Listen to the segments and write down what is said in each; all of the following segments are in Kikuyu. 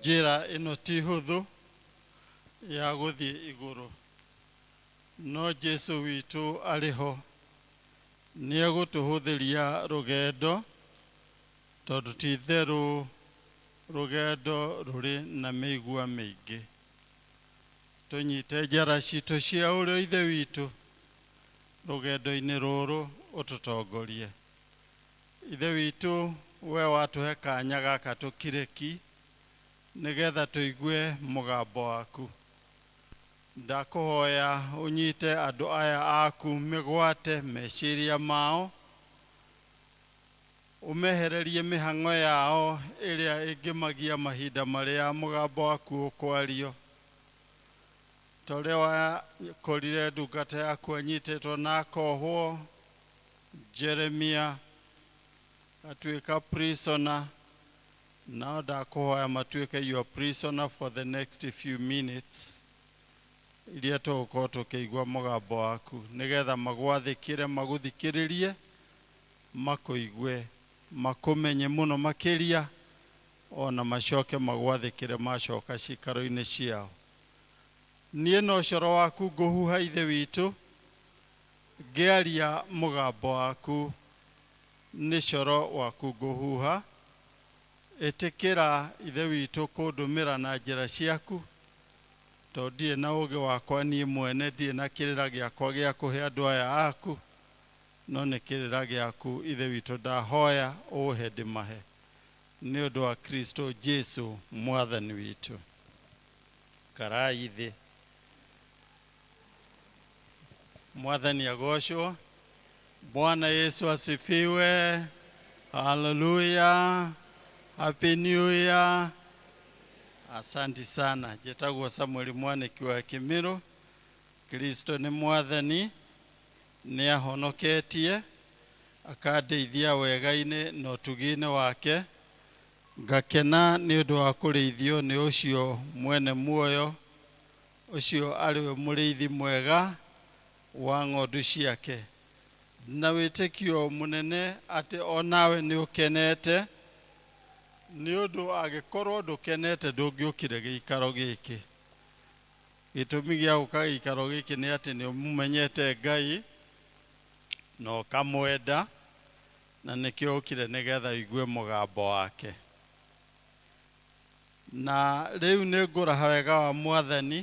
njĩra ĩno ti hũthũ ya gũthiĩ igũrũ no jesu witũ arĩ ho nĩ egũtũhũthĩria rũgendo tondũ ti itherũ rũgendo rũrĩ na mĩigua mĩingĩ tũnyite njara citũ cia ũrĩa ithe witũ rũgendo-inĩ rũrũ ũtũtongorie Ithe witũ, we watũhe kanya gaka tũkire ki nĩgetha tũigue mũgambo waku. Ndakũhoya ũnyite andũ aya aku mĩgwate meciria mao, ũmehererie mĩhang'o yao ĩrĩa ĩngĩmagia mahinda marĩa mũgambo waku ũkwario. Ta ũrĩa wakorire ndungata yaku anyitĩtwo na akohwo, Jeremia atuĩka prisoner nao ndakũhoya matuĩke your prisoner for the next few minutes iria tũgũkorwo tũkĩigua mũgambo waku nĩgetha magwathĩkĩre magũthikĩrĩrie makũigue makũmenye mũno makĩria ona macoke magwathĩkĩre macoka cikaro-inĩ ciao niĩ no coro waku ngũhuha ithe witũ Ngĩaria mũgambo waku, nĩ coro waku ngũhuha, ĩtĩkĩra, Ithe witũ, kũndũmĩra na njĩra ciaku, tondũ ndirĩ na ũũgĩ wakwa niĩ mwene, ndirĩ na kĩrĩra gĩakwa gĩa kũhe andũ aya aku, no nĩ kĩrĩra gĩaku, Ithe witũ, ndahoya ũũhe ndĩmahe, nĩ ũndũ wa Kristo Jesu Mwathani witũ. Ikarai thĩ. mwathani agocwo bwana yesu asifiwe haleluya happy new year asanti sana jetagwo samueli mwaniki wa kimiro kristo nĩ mwathani nĩ ahonoketie akandeithia wega-inĩ na ũtugi-inĩ wake ngakena nĩ ũndũ wa kũrĩithio nĩ ũcio mwene muoyo Ũcio arĩ we mũrĩithi mwega wa ng'ondu ciake, na wĩtĩkio mũnene atĩ o nawe nĩ ũkenete, nĩ ũndũ angĩkorũo ndũkenete ndũngĩũkire gĩikaro gĩkĩ. Gĩtũmi gĩa gũka gĩikaro gĩkĩ nĩ atĩ nĩ ũmũmenyete Ngai na ũkamwenda, na nĩkĩo ũkire nĩgetha ũigue mũgambo wake. Na rĩu nĩngũraha wega wa Mwathani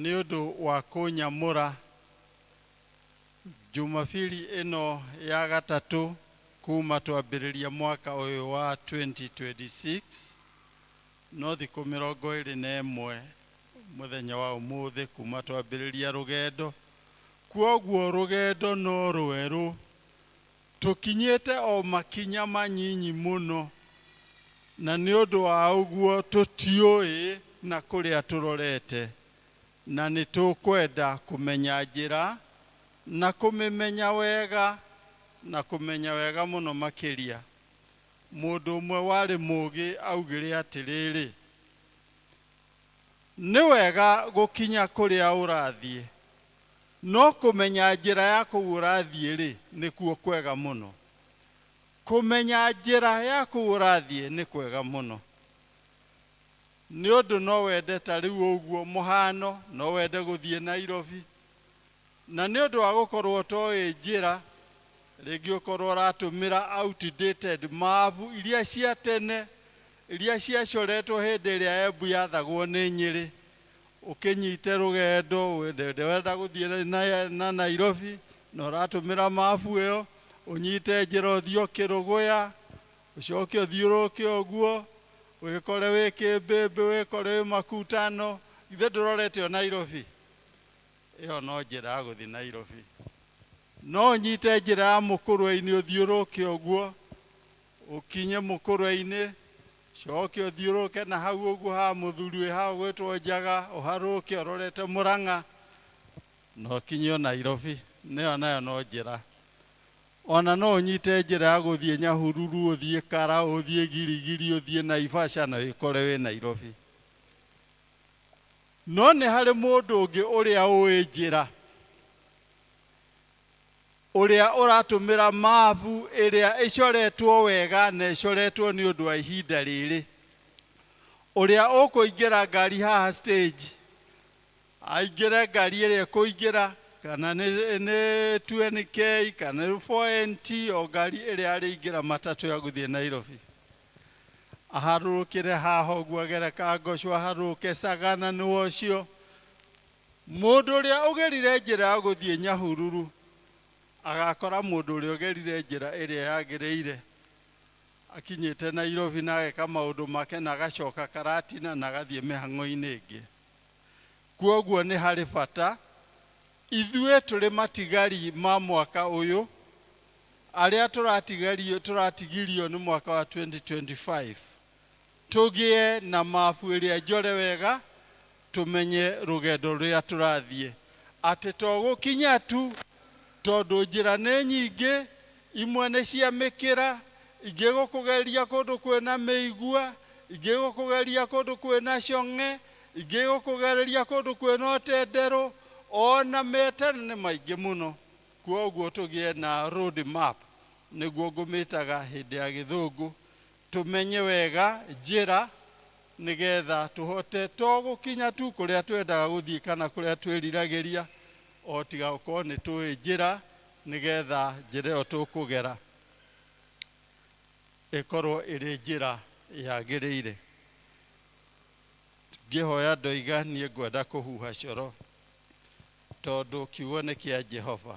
nĩ ũndũ wa kũnyamũra Jumapili ĩno ya gatatũ kuuma twambĩrĩria mwaka ũyũ wa 2026, no thikũ mĩrongo ĩrĩ na ĩmwe mũthenya wa ũmũthĩ kuuma twambĩrĩria rũgendo. Kwoguo rũgendo no rwerũ. Tũkinyĩte o makinya manyinyi mũno, na nĩ ũndũ wa ũguo tũtiũĩ na kũrĩa tũrorete, na nĩ tũkwenda kũmenya njĩra, na kũmĩmenya wega, na kũmenya wega mũno makĩria. Mũndũ ũmwe warĩ mũũgĩ aaugire atĩrĩrĩ, Nĩ wega gũkinya kũrĩa ũrathiĩ, no kũmenya njĩra ya kũu ũrathiĩ-rĩ, nĩkuo kwega mũno. Kũmenya njĩra ya kũu ũrathiĩ nĩ kwega mũno, nĩ ũndũ no wende ta rĩu ũguo mũhano, no wende gũthiĩ Nairobi, na nĩ ũndũ wa gũkorũo ũtoĩ njĩra, rĩngĩ ũkorũo ũratũmĩra outdated maabu iria cia tene, Iria ciacoretwo hĩndĩ ĩrĩa Embu yathagwo nĩ Nyĩrĩ, ũkĩnyite rũgendo wenda gũthiĩ na Nairobi na ũratũmĩra mabu ĩyo, ũnyite njĩra ũthiĩ o Kĩrũgũya, ũcoke ũthiũrũrũke ũguo, wĩkore wĩ Kĩmbĩmbĩ, wĩkore wĩ Makutano, githĩ ndũrorete o Nairobi? Ĩyo no njĩra ya gũthiĩ Nairobi. No ũnyite njĩra ya Mũkũrwe-inĩ ũthiũrũrũke ũguo, Ũkinye mũkũrwe-inĩ, cooke ũthiũrũrũke na hau ũguo ha mũthuri wĩ ha ũgwĩtwo Njaga, ũharũrũke ũrorete Mũrang'a, na ũkinye o Nairobi. Na ĩyo nayo no njĩra. O na no ũnyite njĩra ya gũthiĩ Nyahururu, ũthiĩ Kara, ũthiĩ Girigiri, ũthiĩ Naivasha, na wĩkore wĩ Nairobi. No nĩ harĩ mũndũ ũngĩ ũrĩa ũũĩ njĩra. Ũrĩa ũratũmĩra maabu ĩrĩa ĩcoretwo wega na ĩcoretwo nĩ ũndũ wa ihinda rĩrĩ. Ũrĩa ũkũingĩra ngari haha stage, aingĩre ngari ĩrĩa ĩkũingĩra, kana nĩ nĩ 2NK, kana nĩ 4NT, o ngari ĩrĩa arĩingĩra matatũ ya gũthiĩ Nairobi. Aharũrũkĩre haha ũguo agere Kangosho, aharũrũke Sagana nĩwe ũcio. Mũndũ ũrĩa ũgerire njĩra ya gũthiĩ Nyahururu agakora mũndũ ũrĩa ũgerire njĩra ĩrĩa yagĩrĩire akinyĩte Nairobi na ageka maũndũ make na agacoka Karatina na agathiĩ mĩhang'o-inĩ ĩngĩ. Kwoguo nĩ harĩ bata ithuĩ tũrĩ matigari ma mwaka ũyũ, arĩa tũratigirio nĩ mwaka wa 2025, Tũgĩe na mabu ĩrĩa njore wega tũmenye rũgendo rũrĩa tũrathiĩ. Atĩ to gũkinya tu, tondũ njĩra nĩ nyingĩ, imwe nĩ cia mĩkĩra, ingĩ gũkũgereria kũndũ kwĩ na mĩigua, ingĩ gũkũgereria kũndũ kwĩ na cong'e, ingĩ gũkũgereria kũndũ kwĩ na ũtenderũ, o na metana nĩ maingĩ mũno. Kwoguo tũgĩe na road map, nĩguo ngũmĩtaga hĩndĩ ya gĩthũngũ, Tũmenye wega njĩra nĩ getha tũhote to gũkinya tu kũrĩa twendaga gũthiĩ kana kũrĩa twĩriragĩria, o tiga gũkorwo nĩ tũĩ njĩra nĩ getha njĩra ĩyo tũkũgera ĩkorwo ĩrĩ njĩra yagĩrĩire. Ngĩhoya ndoiga niĩ ngwenda kũhuha coro tondũ kiugo nĩ kĩa Jehova.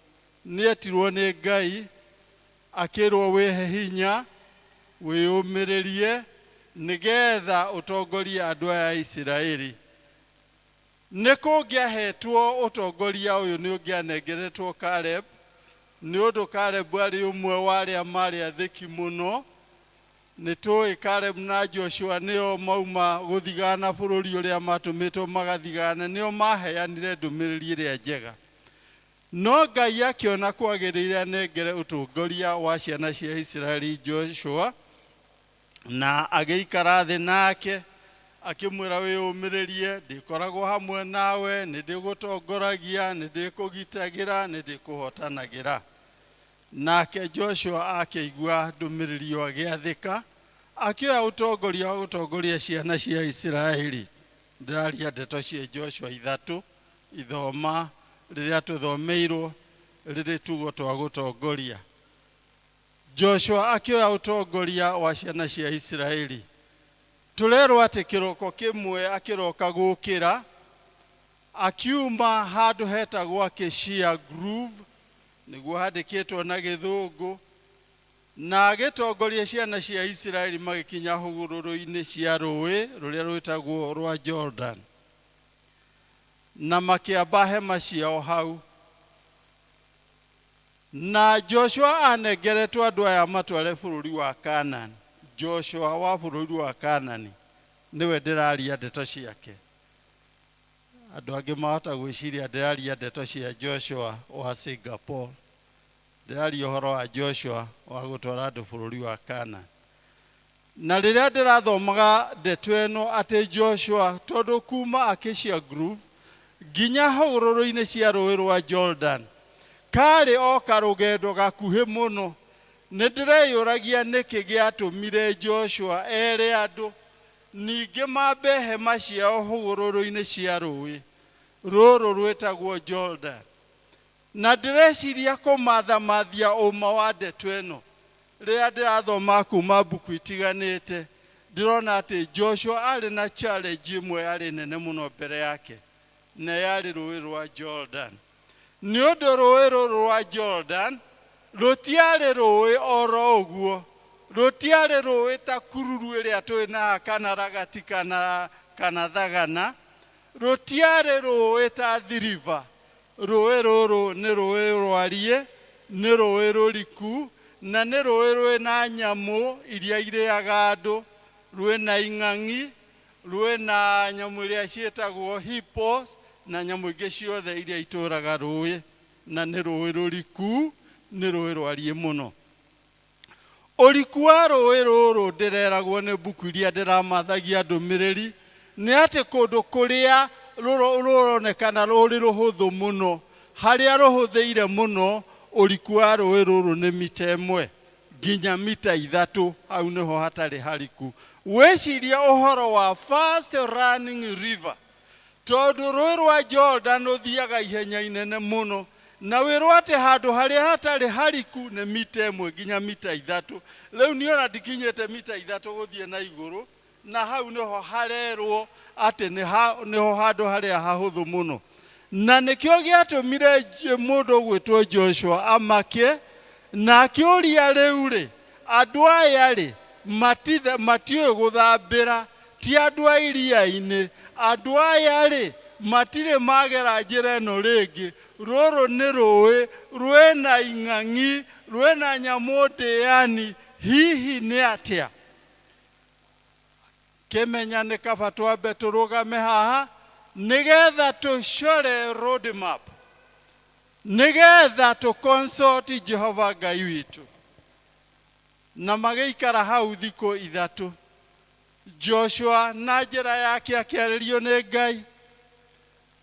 nĩetirwo nĩ Ngai, akĩrwo wĩhe hinya, wĩyũmĩrĩrie, nĩgetha ũtongorie andũ aya a Isiraeli. Nĩ kũngĩahetwo ũtongoria ũyũ nĩ ũngĩanengeretwo Kalebu, nĩ ũndũ Kalebu arĩ ũmwe wa arĩa marĩ athĩki mũno. Nĩ tũĩ Kalebu na Joshua nĩo mauma gũthigana bũrũri ũrĩa matũmĩtwo magathigane, nĩo maheanire ndũmĩrĩri ĩrĩa njega. No Ngai akĩona kwagĩrĩire anengere ũtongoria wa ciana cia Isiraeli Joshua, na agĩikara thĩ nake, akĩmwĩra, Wĩyũmĩrĩrie, ndĩkoragwo hamwe nawe, nĩ ndĩgũtongoragia, nĩ ndĩkũgitagĩra, nĩ ndĩkũhootanagĩra. Nake Joshua akĩigua ndũmĩrĩri ĩyo agĩathĩka, akĩoya ũtongoria wa gũtongoria ciana cia Isiraeli. Ndĩraria ndeto cia Joshua ithatũ. Ithoma rĩrĩa tũthomeirwo rĩrĩ tugo twa gũtongoria. Joshua akĩoya ũtongoria wa ciana cia Isiraeli. Tũrerwo atĩ kĩroko kĩmwe akĩroka gũkĩra, akiuma handũ hetagwo Acacia Grove, nĩguo handĩkĩtwo na gĩthũngũ, na agĩtongoria ciana cia Isiraeli magĩkinya hũgũrũrũ-inĩ cia rũĩ rũrĩa rwĩtagwo rwa Jordan. na makĩamba hema ciao hau. Na Joshua anengeretwo andũ aya matware bũrũri wa Kaanani. Joshua wa bũrũri wa Kaanani nĩwe ndĩraria ndeto ciake. Andũ angĩ mahota gwĩciria ndĩraria ndeto cia Joshua wa Singapore. Ndĩraria ũhoro wa Joshua wa gũtwara andũ bũrũri wa Kaanani. Na rĩrĩa ndĩrathomaga ndeto ĩno atĩ Joshua tondũ kuuma Acacia Grove nginya hũgũrũrũ-inĩ cia Rũũĩ rwa Jordan kaarĩ o karũgendo gakuhĩ mũno, nĩ ndĩreyũragia nĩkĩ gĩatũmire Joshua ere andũ ningĩ mambe hema ciao hũgũrũrũ-inĩ cia rũũĩ rũrũ rwĩtagwo Jordan. Na ndĩreciria kũmathamathia ũũma wa ndeto ĩno, Rĩrĩa ndĩrathomaga kuuma mbuku itiganĩte, ndĩrona atĩ Joshua aarĩ na challenge ĩmwe yarĩ nene mũno mbere yake, na yarĩ Rũũĩ rwa Jordan. Nĩ ũndũ rũũĩ rũrũ rwa Jordan rũtiarĩ rũũĩ o ro ũguo. Rũtiarĩ rũũĩ ta kururu ĩrĩa tũĩ na haha kana ragati kana thagana. Rũtiarĩ rũũĩ ta thiriva. Rũũĩ rũrũ nĩ rũũĩ rwariĩ, nĩ rũũĩ rũriku, na nĩ rũũĩ rwĩ na nyamũ iria irĩaga andũ, rwĩ na ing'ang'i, rwĩ na nyamũ iria ciĩtagwo hippos, na nyamũ ingĩ ciothe iria itũũraga rũũĩ, na nĩ rũũĩ rũriku, nĩ rũũĩ rwariĩ mũno. Ũriku wa rũũĩ rũrũ ndĩreragwo nĩ mbuku iria ndĩramathagia ndũmĩrĩri nĩ atĩ kũndũ kũrĩa rũronekana rũrĩ rũhũthũ mũno, harĩa rũhũthĩire mũno, ũriku wa rũũĩ rũrũ nĩ mita ĩmwe nginya mita ithatũ, hau nĩho hatarĩ hariku. Wĩcirie ũhoro wa fast running river. Tondũ Rũũĩ rwa Jorodani rũthiiaga ihenya inene mũno, na wĩrwo atĩ handũ harĩa hatarĩ hariku nĩ mita ĩmwe nginya mita ithatũ, rĩu niĩ o na ndikinyĩte mita ithatũ gũthiĩ na igũrũ, na hau nĩ ho harerwo atĩ nĩ ho handũ harĩa hahũthũ mũno. Na nĩkĩo gĩatũmire mũndũ ũgwĩtwo Joshua amake, na akĩũria, 'Rĩu-rĩ, andũ aya-rĩ, matiũĩ gũthambĩra Ti andũ a iria-inĩ. Andũ aya-rĩ, matirĩ magera njĩra ĩno rĩngĩ. Rũrũ nĩ rũĩ, rwĩna ing'ang'i, rwĩna nyamũ ndĩani. Hihi nĩ atĩa? Kĩmenya nĩ kaba twambe tũrũgame haha nĩ getha tũcore road map, nĩ getha tũ consult Jehova Ngai witũ. Na magĩikara hau thikũ ithatũ. joshua na njĩra yake akĩarĩrio nĩ ngai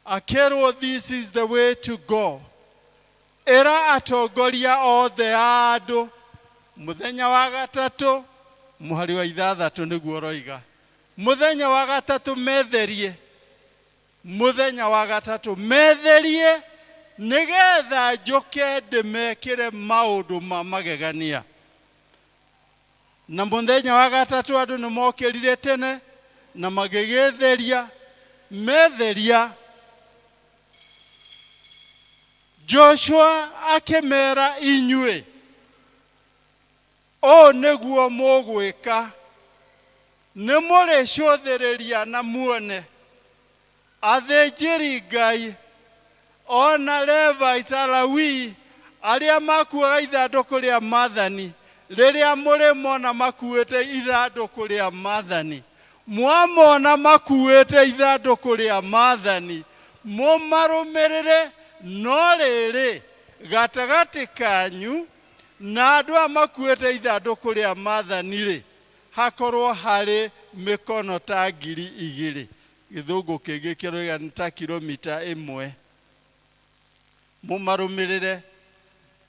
akĩrwo this is the way to go ĩra atongoria othe a andũ mũthenya wa gatatũ mũhari wa ithathatũ nĩguo ũroiga mũthenya wa gatatũ metherie mũthenya wa gatatũ metherie nĩgetha njũke ndĩmekĩre maũndũ ma magegania Na mũthenya wa gatatũ andũ nĩ mokĩrire tene na magĩgĩtheria metheria. Joshua akĩmera inyuĩ, ũũ nĩguo mũgwĩka, nĩ mũrĩcũthĩrĩria na muone Athĩnjĩri Ngai, o na Levai ca Lawii, arĩa makuuaga ithandũkũ rĩa maathani, rĩrĩa mũrĩmona makuuĩte ithandũkũ rĩa maathani, mwamona makuuĩte ithandũkũ rĩa maathani, mũmarũmĩrĩre, no rĩrĩ, gatagatĩ kanyu na andũ aya makuuĩte ithandũkũ rĩa maathani-rĩ, hakorwo harĩ mĩkono ta ngiri igĩrĩ Gĩthũngũ kĩngĩ kĩroiga nĩ ta kiromita ĩmwe. Mũmarũmĩrĩre.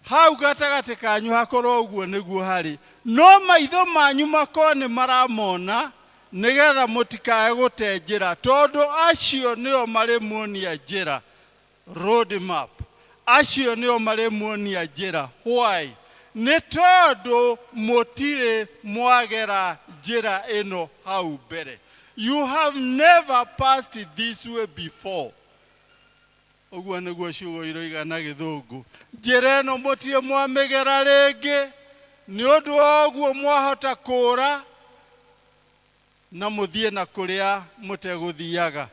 Hau gatagatĩ kanyu hakorwo ũguo nĩguo harĩ, no maitho manyu makorwo nĩ maramona, nĩ getha mũtikae gũte njĩra, tondũ acio nĩo marĩmuonia njĩra. Road map, acio nĩo marĩmuonia njĩra. Why? Nĩ tondũ mũtirĩ mwagera njĩra ĩno hau mbere. You have never passed this way before. Ũguo nĩguo ciugo iroiga na gĩthũngũ. Njĩra ĩno mũtirĩ mwamĩgera rĩngĩ, nĩ ũndũ wa ũguo mwahota kũũra na mũthiĩ na kũrĩa mũtegũthiaga.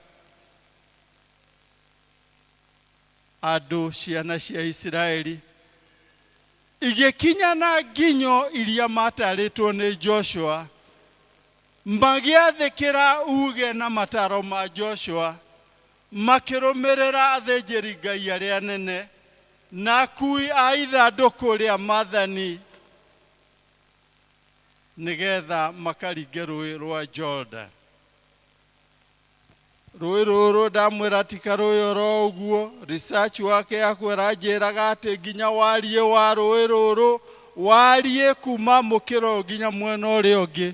andũ ciana cia Isiraeli igĩkinya na nginyo iria matarĩtwo nĩ Joshua, magĩathĩkĩra uge na mataro ma Joshua, makĩrũmĩrĩra athĩnjĩri Ngai arĩa anene na akui a ithandũkũ rĩa mathani nĩgetha makaringe rũĩ rwa Jordan. Rũĩ rũrũ ndamwĩra ti karũĩ oro ũguo, research work yakwa ĩranjĩraga atĩ nginya wariĩ wa rũĩ rũrũ wariĩ kuma mũkĩra ũyũ nginya mwena ũrĩa ũngĩ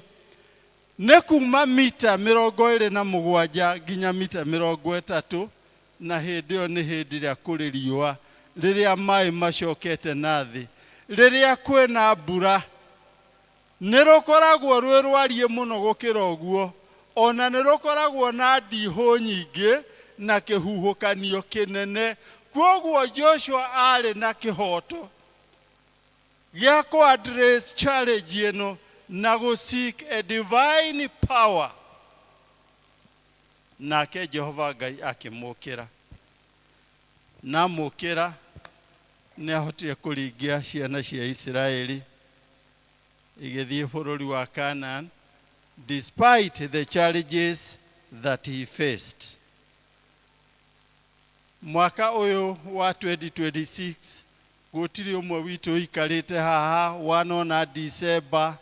nĩ kuma mita mĩrongo ĩrĩ na mũgwanja nginya mita mĩrongo ĩtatũ na hĩndĩ ĩyo nĩ hĩndĩ ĩrĩa kũrĩ riũa rĩrĩa maĩ macokete na thĩ rĩrĩa kwĩna mbura Nĩ rũkoragwo rwĩ rwariĩ mũno gũkĩra ũguo, o na nĩ rũkoragwo na ndiihũ nyingĩ na kĩhuhũkanio kĩnene. Kwoguo Joshua aarĩ na kĩhooto gĩa kũ address challenge ĩno na gũ seek a divine power, nake Jehova Ngai akĩmũkĩra. Na amũkĩra, nĩ ahotire kũringia ciana cia Isiraeli igĩthiĩ bũrũri wa Canaan despite the challenges that he faced. Mwaka ũyũ wa 2026 gũtirĩ ũmwe witũ ũikarĩte haha wanona December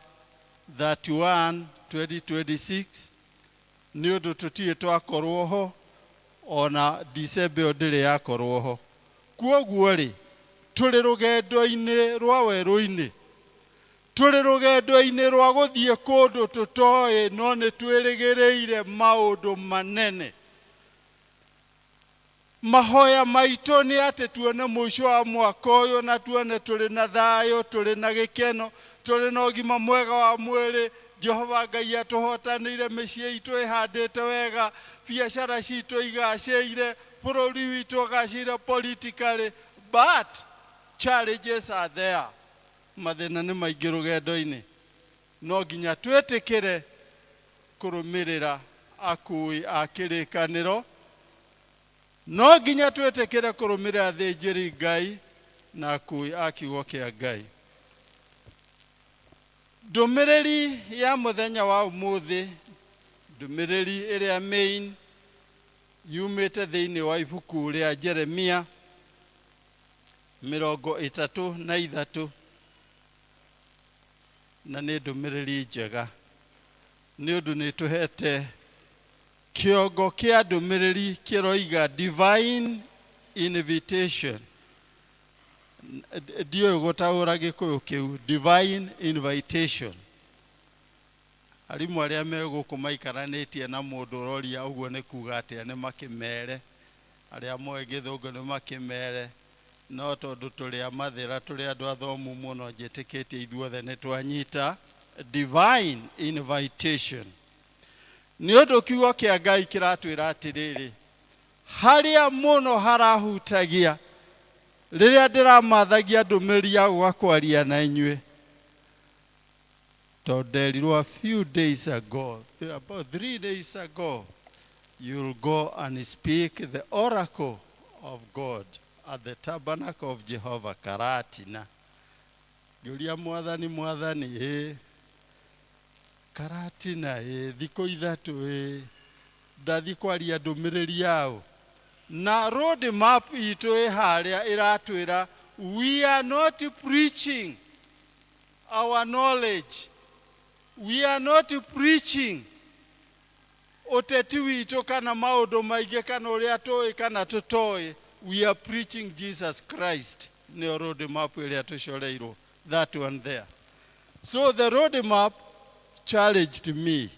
31, 2026 Nĩ ũndũ tũtirĩ twakorũo ho, o na Dicemba ĩyo ndĩrĩ yakorũo ho. Kwoguo-rĩ, tũrĩ rũgendo-inĩ rwa werũ-inĩ. Tũrĩ rũgendo-inĩ rwa gũthiĩ kũndũ tũtoĩ no nĩ twĩrĩgĩrĩire maũndũ manene. Mahoya maitũ nĩ atĩ tuone mũico wa mwaka ũyũ na tuone tũrĩ na thayũ, tũrĩ na gĩkeno, tũrĩ na ũgima mwega wa mwĩrĩ, Jehova Ngai atũhotanĩire, mĩciĩ itũ ĩhandĩte wega, biacara citũ igacĩire, bũrũri witũ ũgacĩire politically, but challenges are there. Mathĩna nĩ maingĩ rũgendo-inĩ. No nginya twĩtĩkĩre kũrũmĩrĩra akũũi a kĩrĩkanĩro. No nginya twĩtĩkĩre kũrũmĩrĩra athĩnjĩri Ngai na akũũi a kiugo kĩa Ngai. Ndũmĩrĩri ya mũthenya wa ũmũthĩ, ndũmĩrĩri ĩrĩa main yumĩte thĩinĩ wa ibuku rĩa Jeremia mĩrongo ĩtatũ na ithatũ. na nĩ ndũmĩrĩri njega nĩ ũndũ nĩ tũhete kĩongo kĩa ndũmĩrĩri kĩroiga divine invitation ndiũĩ gũtaũra gĩkũyũ kĩu divine invitation arimũ arĩa me gũkũ maikaranĩtie na mũndũ ũroria ũguo nĩ kuga atĩa nĩ makĩmere arĩa moĩ gĩthũngũ nĩ makĩmere No tondũ tũrĩ a mathĩra, tũrĩ andũ athomu mũno, njĩtĩkĩtie ithuothe nĩ twanyita divine invitation. Nĩ ũndũ kiugo kĩa Ngai kĩratwĩra atĩrĩrĩ, harĩa mũno harahutagia rĩrĩa ndĩramathagia ndũmĩrĩri ya gũka kwaria na inyuĩ, To nderirwo a few days ago, th- about three days ago, you'll go and speak the oracle of God at the tabernacle of Jehovah Karatina. Ngĩũria mwathani mwathani ĩ Karatina ĩ thikũ ithatũ ĩ ndathiĩ kwaria ndũmĩrĩri yaũ na road map itũ ĩ harĩa ĩratwĩra we are not preaching our knowledge. We are not preaching ũteti witũ kana maũndũ maingĩ kana ũrĩa tũĩ kana tũtoĩ. We are preaching Jesus Christ. Nĩyo road map ĩrĩa tũcoreirwo. That one there. So the road map challenged me.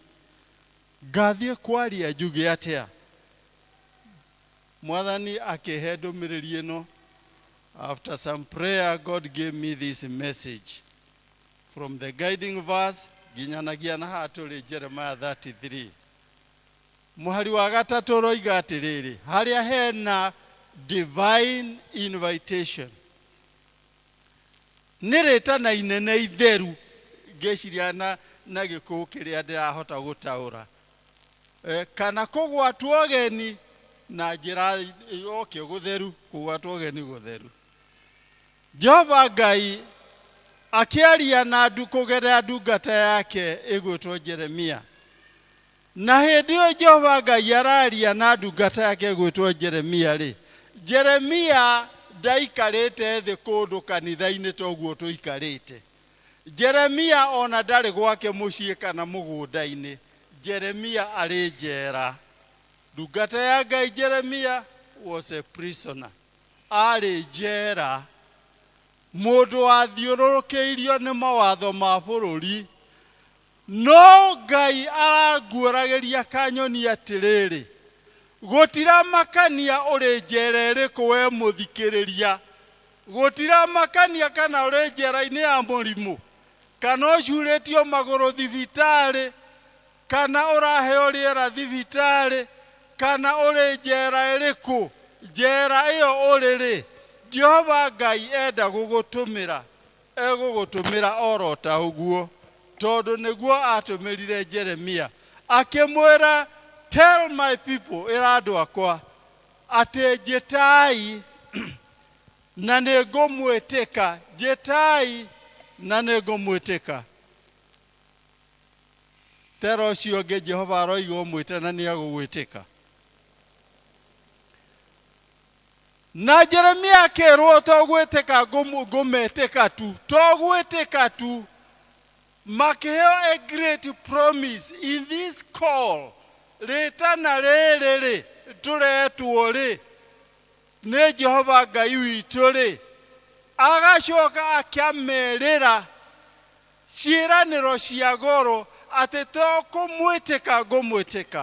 Ngathiĩ kwaria njuge atĩa? Mwathani akĩhe ndũmĩrĩri ĩno. After some prayer, God gave me this message. From the guiding verse, nginyanagia na haha tũrĩ Jeremiah 33. Mũhari wa gatatũ ũroiga atĩrĩrĩ, harĩa hena divine invitation. Nĩ rĩtana inene itheru ngĩciria na, na gĩkũũ kĩrĩa ndĩrahota gũtaũra Eh, kana kũgwatwo ũgeni na njĩra yokio gũtheru kũgwatwo ũgeni gũtheru jehova ngai akĩaria na ndu kũgerera ndungata yake ĩgwĩtwo jeremia na hĩndĩ ĩyo jehova ngai araria na ndungata yake ĩgwĩtwo jeremia rĩ jeremia ndaikarĩte thĩ kũndũ kanitha-inĩ toguo tũikarĩte Jeremia o na ndarĩ gwake mũciĩ kana mũgũnda-inĩ. Jeremia arĩ njera. Ndungata ya Ngai Jeremia was a prisoner. Aarĩ njera. Mũndũ wathiũrũrũkĩirio nĩ mawatho ma bũrũri. No Ngai aranguũragĩria kanyoni atĩrĩrĩ, Gũtiramakania ũrĩ njera ĩrĩkũ wee mũthikĩrĩria, gũtiramakania kana ũrĩ njera-inĩ ya mũrimũ, kana ũcuurĩtio magũrũ thibitarĩ, kana ũraheo rĩera thibitarĩ, kana ũrĩ njera ĩrĩkũ, njera ĩyo ũrĩ-rĩ, Jehova Ngai enda gũgũtũmĩra. Egũgũtũmĩra o ro ta ũguo, tondũ nĩguo aatũmĩrire Jeremia, akĩmwĩra, Tell my people, ĩra andũ akwa, atĩ njĩtai, na nĩ ngũmwĩtĩka, njĩtai, na nĩ ngũmwĩtĩka. Tera ũcio ũngĩ Jehova aroiga ũmwĩte na nĩ egũgwĩtĩka. Na Jeremia akĩrwo to gwĩtĩka ngũmũ- ngũmetĩka tu to gwĩtĩka tu makĩheo a great promise in this call rĩtana rĩrĩ rĩ tũretwo rĩ nĩ jehova ngai witũ rĩ agacoka akĩamerĩra ciĩranĩro cia goro atĩ to kũmwĩtĩka ngũmwĩtĩka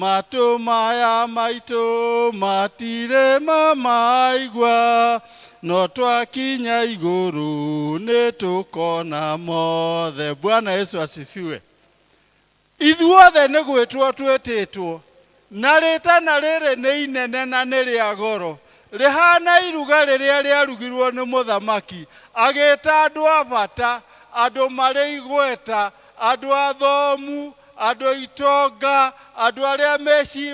Matũ maya maitũ matirĩ mamaigua, no twakinya igũrũ nĩ tũkona mothe. Bwana Yesu asifiwe. Ithuothe nĩ gwĩtwo twĩtĩtwo, na rĩtana rĩrĩ nĩ inene na nĩ rĩa goro, rĩhana iruga rĩrĩa rĩarugirwo nĩ mũthamaki, agĩta andũ a bata, andũ marĩ igweta, Andũ athomu, andũ itonga, andũ arĩa meci,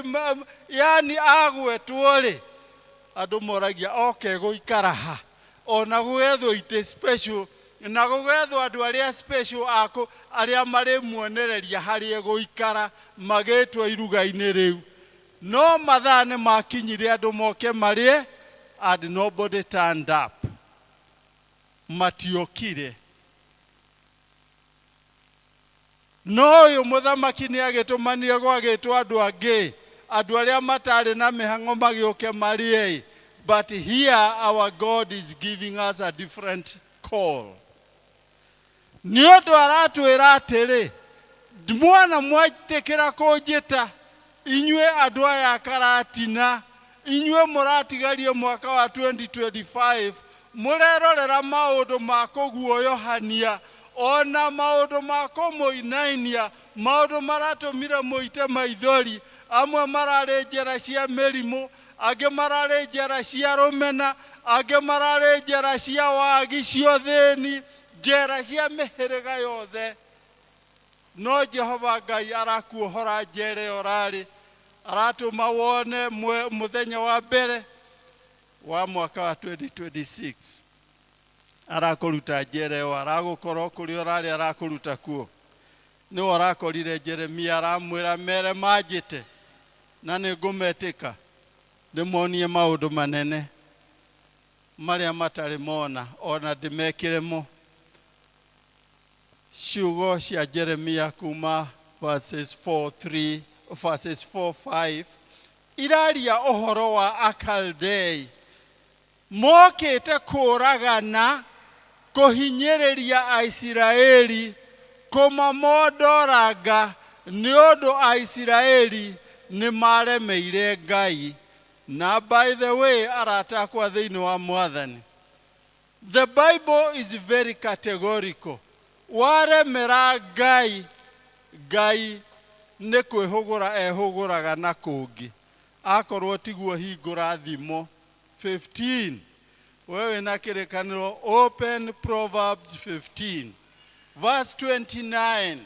yani agwetwo-rĩ, andũ moragia oke gũikara ha? Ona gũgethwo itĩ special, na gũgethwo andũ arĩa special a kũ, arĩa marĩmuonereria harĩa egũikara, magĩtwo iruga-inĩ rĩu. No mathaa nĩmakinyire andũ moke marĩe and nobody turned up. Matiokire. No ũyũ mũthamaki nĩ agĩtũmanire gwagĩtwo andũ angĩ, andũ arĩa mataarĩ na mĩhang'o magĩũke marĩe-ĩ, but here our God is giving us a different call. Nĩ ũndũ aratwĩra atĩrĩ, mwana mwetĩkĩra kũnjĩta, Inyuĩ andũ aya a Karatina, inyuĩ mũratigarie mwaka wa 2025, mũrerorera maũndũ ma kũguoyohania, o na maũndũ ma kũmũinainia, maũndũ maratũmire mũite maithori, amwe mararĩ njĩra cia mĩrimũ, angĩ mararĩ njĩra cia rũmena, angĩ mararĩ njĩra cia wagi, cia ũthĩni, njĩra cia mĩhĩrĩga yothe. No Jehova Ngai arakuohora njera ĩyo ũrarĩ, aratũma wone mwe- mũthenya wa mbere wa mwaka wa 2026 arakũruta njera ĩyo aragũkorwo kũrĩa ũrarĩ arakũruta kuo nĩwe ũrakorire jeremia aramwĩra mere manjĩte na nĩ ngũmetĩka ndĩmonie maũndũ manene marĩa matarĩ mona ona ndĩmekĩre mo Ciugo cia Jeremia kuma verses 4, 3, verses 4, 5 iraria ũhoro wa Akaldei mokĩte kũũragana, kũhinyĩrĩria Aisiraeli, kũmamondoranga nĩ ũndũ Aisiraeli nĩ maaremeire Ngai. Na by the way, arata akwa thĩinĩ wa Mwathani, The Bible is very categorical. Waremera Ngai, Ngai nĩ kwĩhũgũra ehũgũraga na kũngĩ. Akorwo tiguo hingũra Thimo 15. We wĩna kĩrĩkanĩro open Proverbs 15. Verse 29.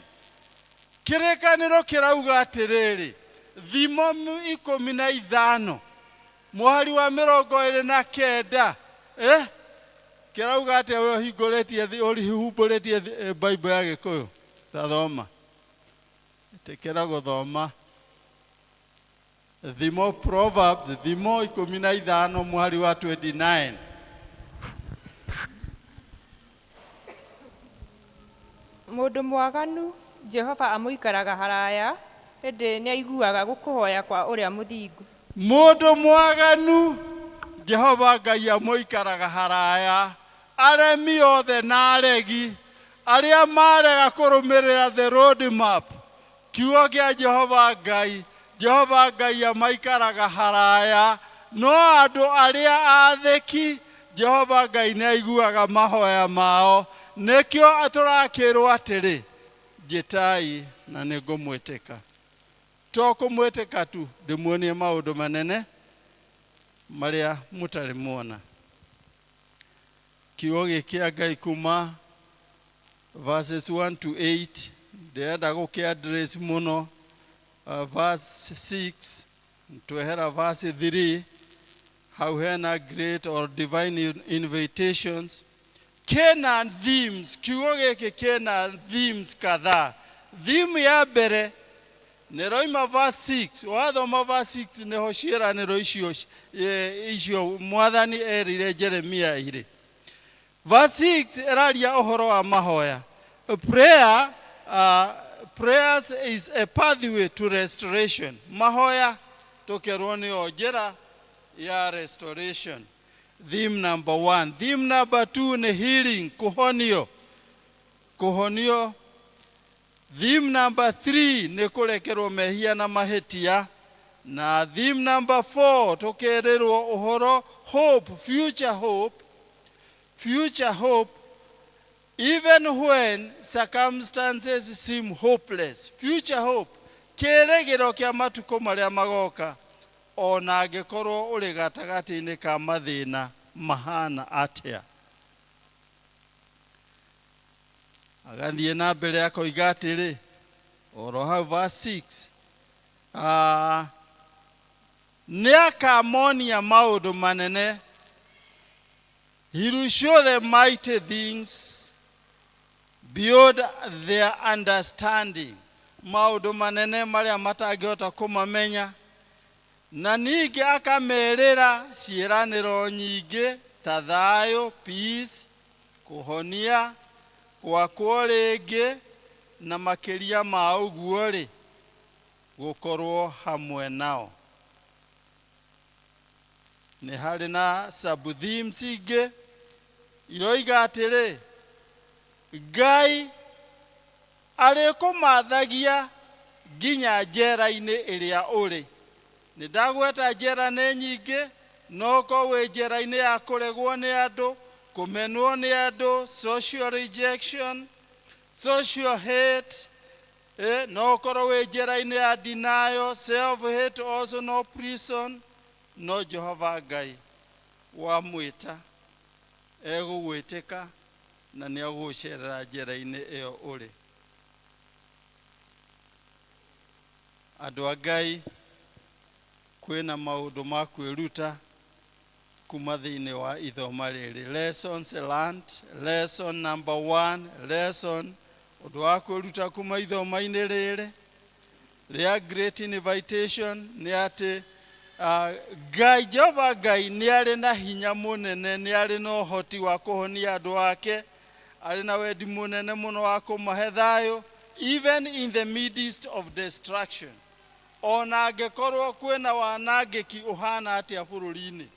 Kĩrĩkanĩro kĩrauga atĩrĩrĩ, Thimo ikũmi na ithano. Mũhari wa mĩrongo ĩrĩ na kenda, ĩ kĩrauga atĩa ũyũ ũhingũrĩtie thi- ũhumbũrĩtie thi- eh, Bible ya Gĩkũyũ? Ta thoma. Ĩtĩkĩra gũthoma. Thimo Proverbs, thimo ikũmi na ithano mũhari wa 29. Mũndũ mwaganu Jehova amũikaraga haraya, ĩndĩ nĩaiguaga gũkũhoya kwa ũrĩa mũthingu. Mũndũ mwaganu Jehova Ngai amũikaraga haraya, aremi othe na aregi, arĩa marega kũrũmĩrĩra the road map, Kiugo kĩa Jehova Ngai, Jehova Ngai a maikaraga haraya, no andũ arĩa aathĩki, Jehova Ngai nĩaiguaga mahoya mao. Nĩkĩo tũrakĩĩrwo atĩrĩ, Njĩtai, na nĩngũmwĩtĩka. To kũmwĩtĩka tu, ndĩmuonie maũndũ manene marĩa mũtarĩ muona. Kiugo gĩkĩ kĩa Ngai kuma verses 1 to 8 ndirenda gũkĩ address mũno uh, verse 6 twehera verse 3 hau hena great or divine in- invitations kena themes kiugo gĩkĩ kena themes kadhaa theme ya mbere Nĩroima verse six, wathoma verse six nĩho ciĩranĩro icio ci- e, icio mwathani erire Jeremia irĩ. Verse six ĩraria ũhoro wa mahoya. Prayer, uh, prayers is a pathway to restoration. Mahoya tũkerwo nĩyo njĩra ya restoration. Theme number one. Theme number two nĩ healing, kũhonio. Kũhonio. Theme number three nĩ kũrekerwo mehia na mahĩtia. Na theme number four tũkerĩrwo ũhoro hope, future hope, future hope even when circumstances seem hopeless. Future hope, kĩrĩgĩro kĩa matukũ marĩa magoka o na angĩkorwo ũrĩ gatagatĩ-inĩ ka mathĩna mahana atĩa. agathiĩ na mbere akoiga atĩrĩ oro hau verse 6 ah, nĩ akamonia maũndũ manene he will show them mighty things beyond their understanding maũndũ manene marĩa matangĩhota kũmamenya Na ningĩ akameerĩra ciĩranĩro nyingĩ ta thayũ, peace, kũhonia, gwakwo rĩngĩ, na makĩria ma ũguo-rĩ, gũkorũo hamwe nao. Nĩ harĩ na sub-themes ingĩ iroiga atĩrĩ, Ngai, Arĩkũmaathagia nginya njeera-inĩ ĩrĩa ũrĩ. Nĩndagweta njeera nĩ nyingĩ, no ũkorwo wĩ njeera-inĩ ya kũregwo nĩ andũ, kũmenwo nĩ andũ, social rejection, social hate, no ũkorwo wĩ njeera-inĩ ya denial, self hate also no prison, no Jehova Ngai wamwĩta egũgwĩtĩka. na nĩ agũgũcerera njĩra-inĩ ĩyo ũrĩ andũ a ngai kwĩna maũndũ ma kwĩruta kuma thĩinĩ wa ithoma rĩrĩ lessons learned lesson number one lesson ũndũ wa kwĩruta kuma ithoma-inĩ rĩrĩ rĩa Great Invitation nĩ atĩ ah, Ngai, Jehova Ngai nĩ arĩ na hinya mũnene, nĩ arĩ na ũhoti wa kũhonia andũ ake, arĩ na wendi mũnene mũno wa kũmahe thayũ, even in the midst of destruction. Ona angĩkorwo kwĩna wanangĩki ũhana atĩa bũrũri-inĩ.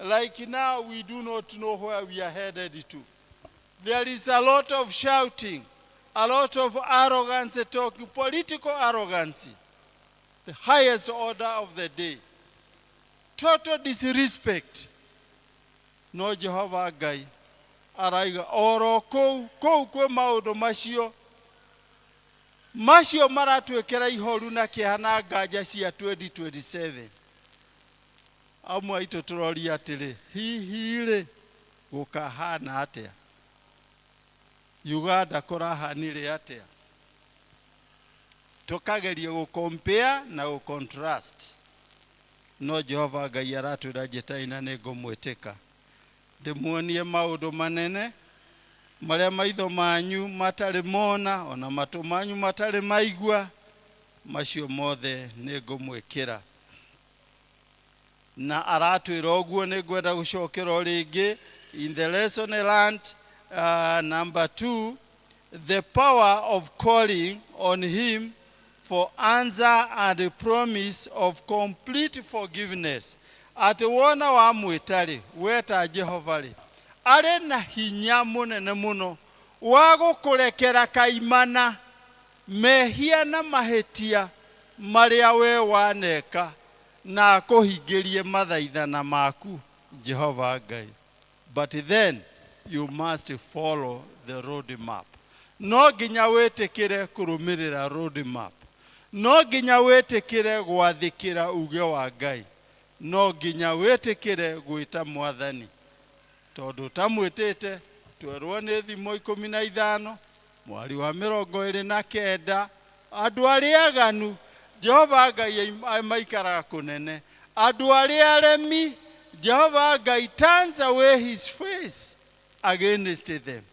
Like now we do not know where we are headed to. There is a lot of shouting, a lot of arrogance talking, political arrogance, the highest order of the day. Total disrespect. No Jehova Ngai araiga oro kũu kũu kwĩ maũndũ macio macio maratwĩkĩra ihoru na kĩeha na nganja cia 2027 amwe aitũ tũroria atĩrĩ hihi rĩ Gũkahaana atĩa? Uganda kũrahanire atĩa? Tũkageria gũkompea na gũcontrust. No Jehova Ngai aratwĩra njĩtai na nĩ ngũmwĩtĩka. Ndĩmuonie maũndũ manene marĩa maitho manyu matarĩ mona, o na matũ manyu matarĩ maigua, macio mothe nĩ ngũmwĩkĩra. Na aratwĩra ũguo nĩngwenda gũcokera o rĩngĩ in the lesson learnt uh, number two the power of calling on him for answer and the promise of complete forgiveness atĩ wona wamwĩtarĩ weta Jehova-rĩ arĩ na hinya mũnene mũno wa gũkũrekera kaimana mehia na mahĩtia marĩa we waneka na akũhingĩrie mathaithana maku Jehova Ngai. But then you must follow the road map. No nginya wĩtĩkĩre kũrũmĩrĩra road map. No nginya wĩtĩkĩre gwathĩkĩra uge wa Ngai. No nginya wĩtĩkĩre gwĩta mwathani Tondũ ũtamwĩtĩte, twerwo nĩ thimo ikũmi na ithano, mwari wa mĩrongo ĩrĩ na kenda. Andũ arĩa aganu, Jehova Ngai ai- maikaraga kũnene. Andũ arĩa aremi, Jehova Ngai turns away his face against them.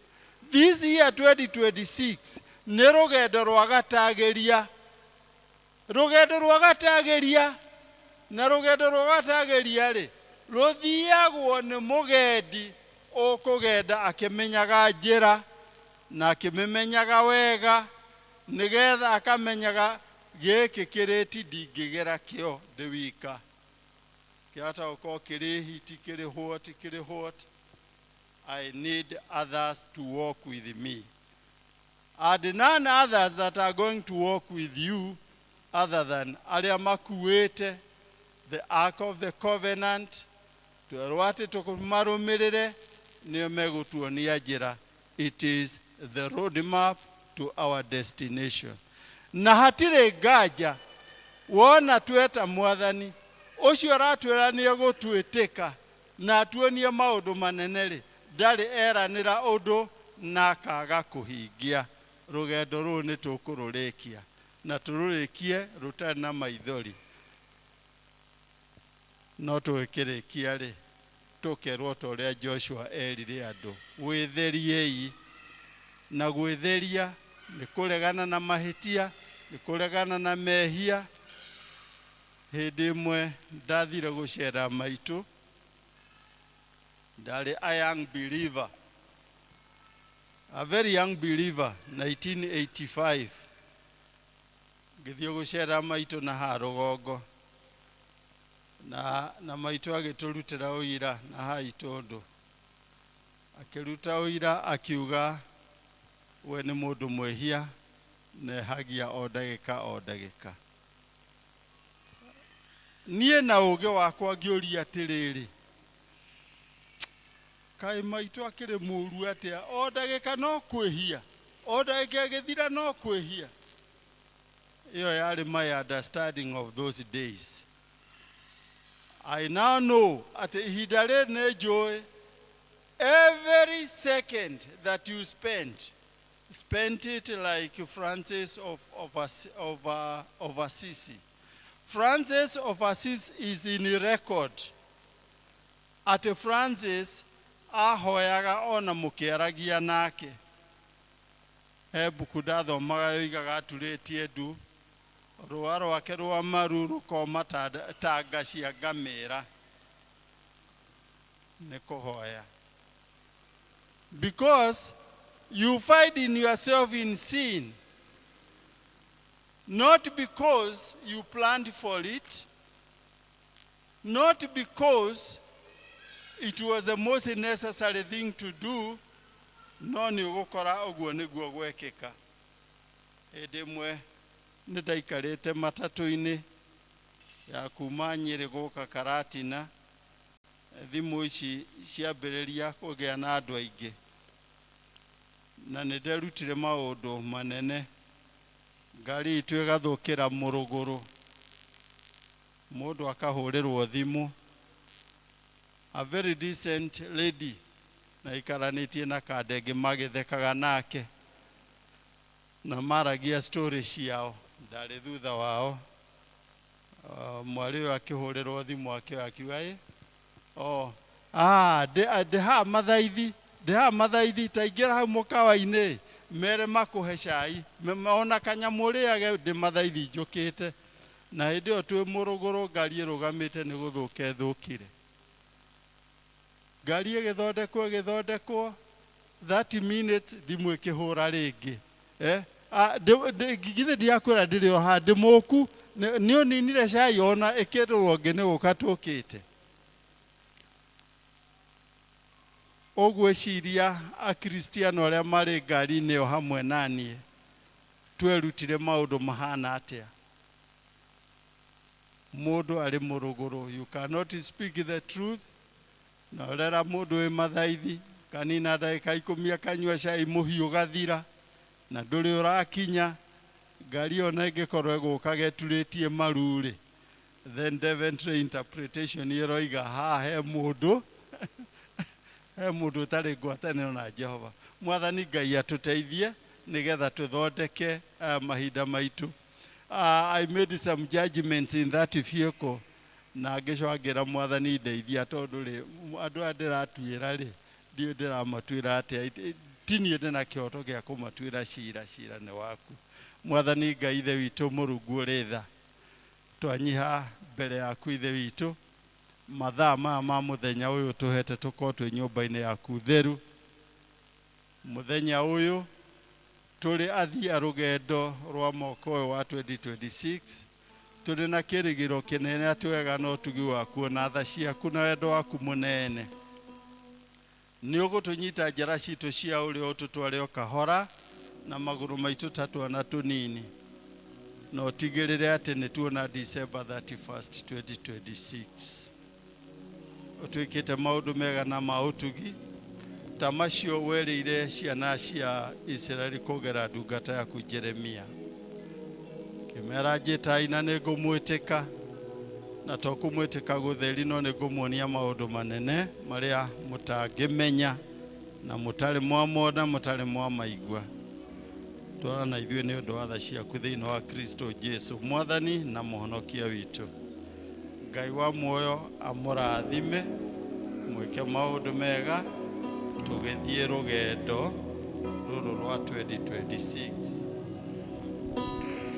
This year 2026 nĩ rũgendo rwa gatagĩria. Rũgendo rwa gatagĩria. Na rũgendo rwa gatagĩria-rĩ, rũthiagwo nĩ mũgendi ũkũgenda akĩmenyaga njĩra, na akĩmĩmenyaga wega, nĩ getha akamenyaga gĩkĩ kĩrĩti ndingĩgera kĩo ndĩ wika. Kĩahota gũkorwo kĩrĩ hiti, kĩrĩ hwoti, kĩrĩ hwoti, I need others to walk with me. And none others that are going to walk with you other than arĩa makuĩte the ark of the covenant twerwo atĩ tũmarũmĩrĩre nĩo megũtuonia njĩra it is the road map to our destination na hatirĩ nganja wona tweta mwathani ũcio ũratwĩra nĩ egũtwĩtĩka na atuonie maũndũ manene-rĩ, ndarĩ eranĩra ũndũ na akaga kũhingia. Rũgendo rũrũ nĩ tũkũrũrĩkia na tũrũrĩkie rũtarĩ na maithori. No tũgĩkĩrĩkia-rĩ, tũkerũo ta ũrĩa Joshua eerire andũ, Wĩtheriei. Na gwĩtheria nĩ kũregana na mahĩtia, nĩ kũregana na mehia. Hĩndĩ ĩmwe ndathire gũcera maitũ, ndarĩ a young believer, a very young believer 1985 ngĩthiĩ gũcera maitũ na ha rũgongo na, na maitũ agĩtũrutĩra ũira na ha itũndũ akĩruta ũira akiuga we nĩ mũndũ mwĩhia na ehagia o ndagĩka o ndagĩka niĩ na ũũgĩ wakwa ngĩũria atĩrĩrĩ kaĩ maitũ akĩrĩ mũũru atĩa o ndagĩka no kwĩhia o ndagĩka ĩgĩthira no kwĩhia ĩyo yarĩ my understanding of those days I now know atĩ ihinda rĩrĩ nĩ njũĩ every second that you spend spent it like Francis of, of, of, uh, of Assisi. Francis of Assisi is in record. Atĩ Francis ahoyaga ona mũkĩaragia nake. He mbuku ndathomaga yoigaga aturĩtie ndu, rũa rwake rwa maru rũkoma ta ta nga cia ngamĩra. Nĩ kũhoya. Because you find in yourself in sin, not because you planned for it, not because it was the most necessary thing to do, no nĩ ũgũkora ũguo nĩguo gwekĩka. Hĩndĩ ĩmwe nĩ ndaikarĩte matatũ-inĩ ya kuma Nyĩrĩ gũka Karatina, thimũ ici ciambĩrĩria kũgĩa na andũ aingĩ na nĩ nderutire maũndũ manene ngari itũ ĩgathũkĩra mũrũgũrũ mũndũ akahũrĩrwo thimũ a very decent lady na ikaranĩtie na kandenge magĩthekaga nake na maragia story ciao ndarĩ thutha wao Ah, mwarĩ ũyũ akĩhũrĩrwo thimũ akĩoya akiuga ĩ oh, ah, ndĩ ah, ndĩ haha mathaithi ndĩ haha mathaithi taingĩra hau mũkawa-inĩ mere makũhe cai Me- me- ona kanyamũ rĩage ndĩ mathaithi njũkĩte na hĩndĩ ĩyo twĩ mũrũgũrũ ngari ĩrũgamĩte nĩ gũthũka ĩthũkire ngari ĩgĩthondekwo ĩgĩthondekwo 30 minutes thimũ ĩkĩhũra rĩngĩ eh? Ah, ndĩ- ndĩ- githĩ ndiakwĩra ndĩrĩ o handĩ mũku nĩ nĩ ũninire cai ona ĩkĩrũrwo ngĩ nĩ gũka tũkĩte ũgwĩciria akristiano arĩa marĩ ngari-inĩ ĩyo hamwe naniĩ twerutire maũndũ mahana atĩa mũndũ arĩ mũrũgũrũ you cannot speak the truth Na rera mũndũ wĩ mathaithi, kanina ndagĩka ikũmi akanyua cai mũhiũ ũgathira, na ndũrĩ ũrakinya, ngari ona ĩngĩkorwo ĩgũkaga ĩturĩtie maru-rĩ, then Deventry interpretation ĩroiga haha he mũndũ he mũndũ ũtarĩ ngwatanĩro na Jehova. Mwathani Ngai atũteithie nĩgetha tũthondeke mahinda maitũ. I made some judgments in that vehicle Na ngĩcoka ngĩra mwathani, Ndeithia, tondũ rĩ, andũ aya ndĩratuĩra rĩ, ndiũĩ ndĩramatuĩra atĩa, ti niĩ ndĩ na kĩhoto gĩa kũmatuĩra cira, cira nĩ waku. Mwathani Ngai Ithe witũ Mũrungu ũrĩ tha, twanyiha mbere yaku Ithe witũ, mathaa maya ma mũthenya ũyũ ũtũhete tũkorwo twĩ nyũmba-inĩ yaku theru, mũthenya ũyũ tũrĩ athii a rũgendo rwa mwaka ũyũ wa 2026, Tũrĩ na kĩrĩgĩro kĩnene atĩ wega na ũtugi waku, o na tha ciaku na wendo waku mũnene, nĩ ũgũtũnyita njĩra citũ cia ũrĩo ũtũtware o kahora na magũrũ maitũ ta twana tũnini, na ũtigĩrĩre atĩ nĩ tuona December 31st, 2026. ũtwĩkĩte maũndũ mega na ma ũtugi ta macio werĩire ciana cia isiraeli kũgera ndungata yaku jeremia kĩmera njĩtai na nĩ ngũmwĩtĩka na to kũmwĩtĩka gũtheri no nĩ ngũmuonia maũndũ manene marĩa mũtangĩmenya na mũtarĩ mwamona mũtarĩ mwamaigua twara na ithuĩ nĩ ũndũ wa tha ciaku thĩinĩ wa kristo jesu mwathani na mũhonokia witũ Ngai wa muoyo amũrathime mwĩke maũndũ mega tũgĩthiĩ rũgendo rũrũ rwa 2026.